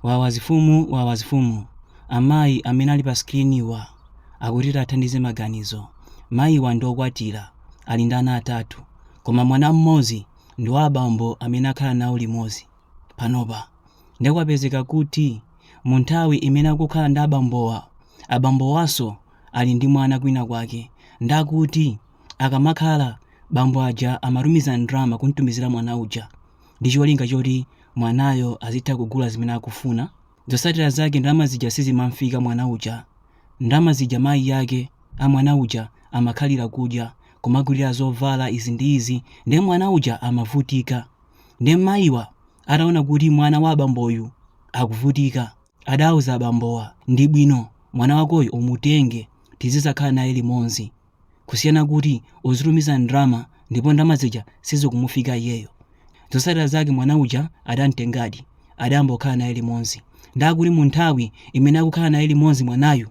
Wawa zifumu wawa zifumu amayi amene ali pa screen wa akuti tathandize maganizo mayiwa ndi okwatira ali ndi ana atatu koma mwana mmodzi ndi wa abambo amene akukhala nawo limodzi panopa nde kwapezeka kuti mu nthawi imene akukhala ndi abambowa abambowaso ali ndi mwana kwina kwake nde akuti akamakhala bambo aja amatumiza ndalama kumtumizira mwana uja ndi cholinga choti mwanayo azitha kugula zimene akufuna zotsatira zake ndalama zija sizimamfika mwana uja ndalama zija mayi yake a mwana uja amakhalira kudya kumagulira zovala izi ndi izi ndiye mwana uja amavutika ndiye mayiwa ataona kuti mwana wa abamboyu akuvutika adauza abambowa ndi bwino mwana wakoyu umutenge tizizakhala naye limodzi kusiyana kuti uzitumiza ndalama ndipo ndalama zija sizikumufika iyeyo zotsatira zake mwana uja adamtengadi adayamba kukhala naye limodzi nde akuti mu nthawi imene akukhala naye limodzi mwanayu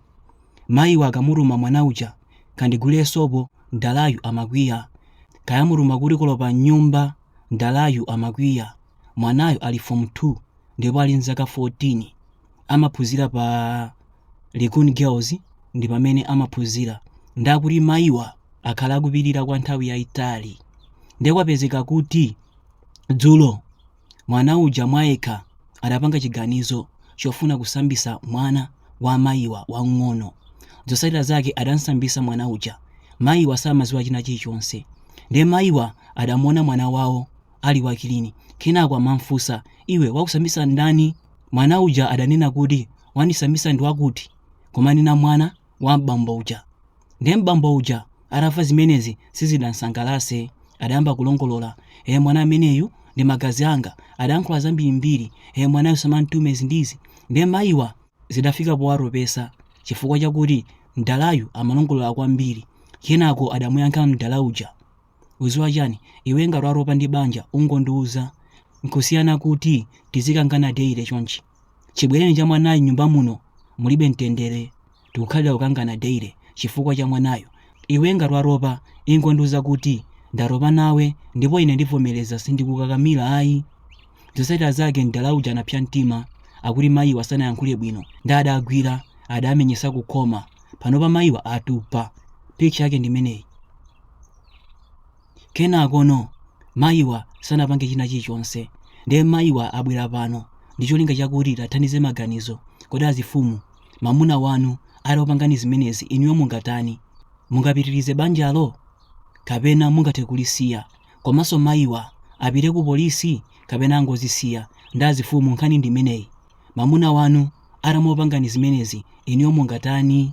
mayiwa akamutuma mwana uja kandigulire sopo mdalayu amakwiya kaya amutuma kuti kolopa mnyumba mdalayu amakwiya mwanayu ali form 2 ndipo ali n'zaka 14 amaphunzira pa Likuni Girls ndi pomwe amaphunzira nde akuti mayiwa akhala akupirira kwa nthawi yayitali ndiye kwapezeka kuti dzulo mwana uja mwayekha adapanga chiganizo chofuna kusambisa mwana wa mayiwa wang'ono zotsatira zake adamsambisa mwana uja mayiwa samaziwa china chilichonse ndiye mayiwa adamuona mwana wawo ali wakilini. Kenako amam'funsa, Iwe, wakusambitsa ndani? Mwana uja adanena kuti, Wandisambitsa ndi wakuti. Kumanena mwana wa m'bambo uja. Ndiye m'bambo uja atamva zimenezi sizidamsangalatse. Adayamba kulongolola, Ee, mwana ameneyu ndi magazi anga. Adayankhula zambirimbiri. Ee, mwanayu samamtume izi ndi izi. Ndiye mayiwa zidafika powatopetsa chifukwa chakuti mdalayu amalongolola kwambiri. Kenako adamuyankha mdala uja. ukuziwa chani iwe ngati watopa ndi banja ungondiuza nkusiyana kuti tizikangana daily chonchi chibwereni cha mwanayo nyumba muno mulibe mtendere tikukhalira kukangana daily chifukwa cha mwanayo iwe ngati watopa ingondiuza kuti ndatopa nawe ndipo ine ndivomereza sindikukakamira ayi zotsatira zake mdala uja anapsa mtima akuti mayiwa sanayankhule bwino nde adawagwira adamenyesa kukhoma panopa mayiwa atupa picture yake ndimeneyi kenakono mayiwa sanapange china chilichonse ndiye mayiwa abwera pano ndi cholinga chakuti tiwathandize maganizo kodi azifumu mamuna wanu atakupangani zimenezi inuyo mungatani mungapitirize banjalo kapena mungathe kulisiya komanso mayiwa apite ku polisi kapena angozisiya ndi azifumu nkhani ndi imeneyi mamuna wanu atakupangani zimenezi inuyo mungatani